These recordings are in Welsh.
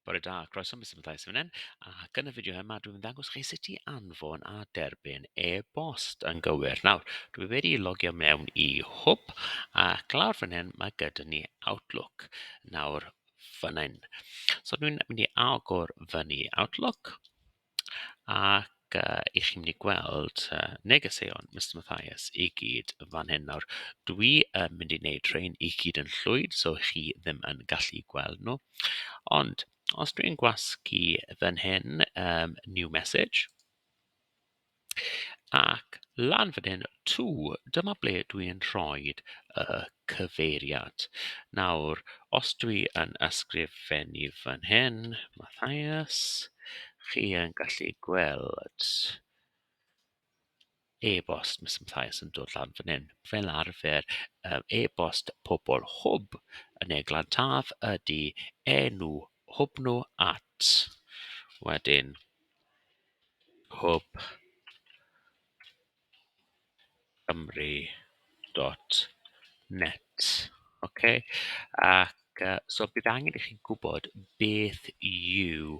Bore da, croeso Mister Mathias fan hyn, ac yn y fideo yma dwi'n mynd ddangos chi sut i anfon a derbyn e-bost yn gywir. Nawr, dwi wedi logio mewn i hwb, ac lawr fan hyn mae gyda ni Outlook. Nawr, fan hyn. So dwi'n mynd i agor fyny Outlook. Ac yy 'y chi'n mynd i gweld yy negeseuon Mister Mathias i gyd fan hyn nawr. Dwi yn mynd i wneud rhein i gyd yn llwyr so chi ddim yn gallu gweld nhw. Ond os dwi'n gwasgu fan hyn yym 'new message'... Ac lan fan hyn, tŵ, dyma ble dw i'n rhoi y cyfeiriad. Nawr, os dw i yn ysgrifennu fan hyn, Matthias, chi yn gallu gweld e-bost Mister Matthias yn dod lan fan hyn. Fel arfer, yym e-bost pobl Hwb yn Eglantaf Taf ydy enw Hwb nhw at wedyn... Hwb Cymru dot net ok ac yy so bydd angen i chi gwybod beth yw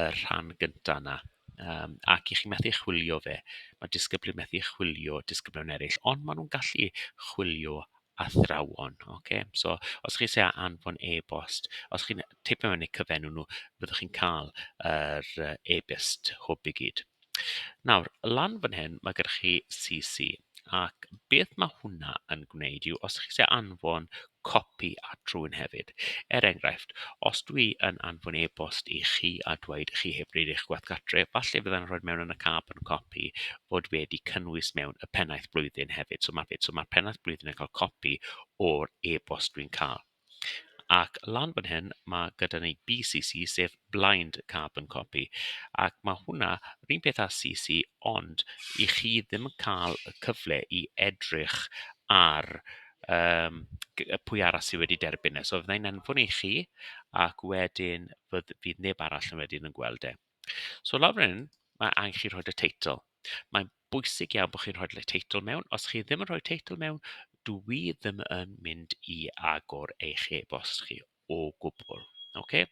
y rhan gynta yna yym ac i chi methu chwilio fe ma' disgyblu methu chwilio disgyblion eraill ond ma' nhw'n gallu chwilio athrawon, ocê. So os chi isie anfon e-bost, os chi'n teipio mewn eu cyfenw nhw, fyddwch chi'n cael yr yy e-byst hwb i gyd. Nawr, lan fan hyn, mae gyda chi CC, ac beth mae hwnna yn gwneud yw, os chi isie anfon copi at rhywun hefyd, er enghraifft, os dwi yn anfon e-bost i chi a dweud chi heb wneud eich gwaith gartre, falle fydda'n rhoi mewn yn y carbon copy fod wedi cynnwys mewn y pennaeth blwyddyn hefyd. So mae'r so ma pennaeth blwyddyn yn cael copi o'r e-bost dwi'n cael. Ac lan fan hyn, mae gyda ni BCC, sef Blind Carbon Copy. Ac mae hwnna, rhywun peth â CC, ond i chi ddim yn cael y cyfle i edrych ar um, pwy arall sydd wedi derbyn e. So fyddai'n anfon i chi, ac wedyn fydd, fydd neb arall yn wedyn yn gweld e. So lawr fan hyn, mae angen chi rhoi y teitl. Mae'n bwysig iawn bod chi'n rhoi y teitl mewn. Os chi ddim yn rhoi teitl mewn, dw i ddim yn mynd i agor eich e-bost chi o gwbl. Oce?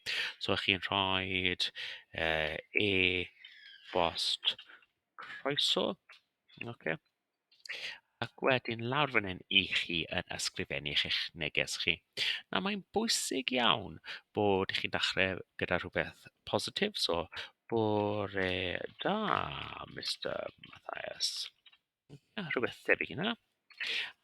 So ych chi'n rhoi uh, e-bost croeso. Oce? Ac wedyn lawr fan hyn i chi yn ysgrifennu'ch eich neges chi. Nawr mae'n bwysig iawn bod chi'n dechre gyda rhywbeth positif so bore da Mister Mathias. Ia rhywbeth tebyg i hynna.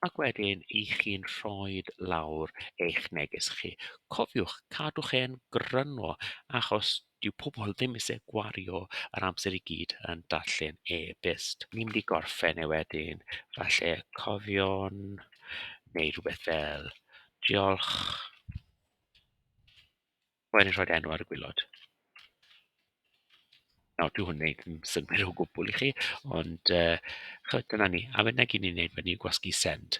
Ac wedyn i chi'n rhoi lawr eich neges chi. Cofiwch cadw'ch e'n gryno achos Dyw pobl ddim eisiau gwario yr amser i gyd yn darllen e-byst. Ni'n mynd i gorffen e wedyn, falle cofion neu rywbeth fel 'Diolch'. Rwy'n mynd i rhoi'r enw ar y gwaelod. Nawr, dyw hwn yn wneud dim synnwyr o gwbl i chi, ond yy chimod, dyna ni. A wedyn 'na gyd ni'n wneud wedyn yw gwasgu 'send'.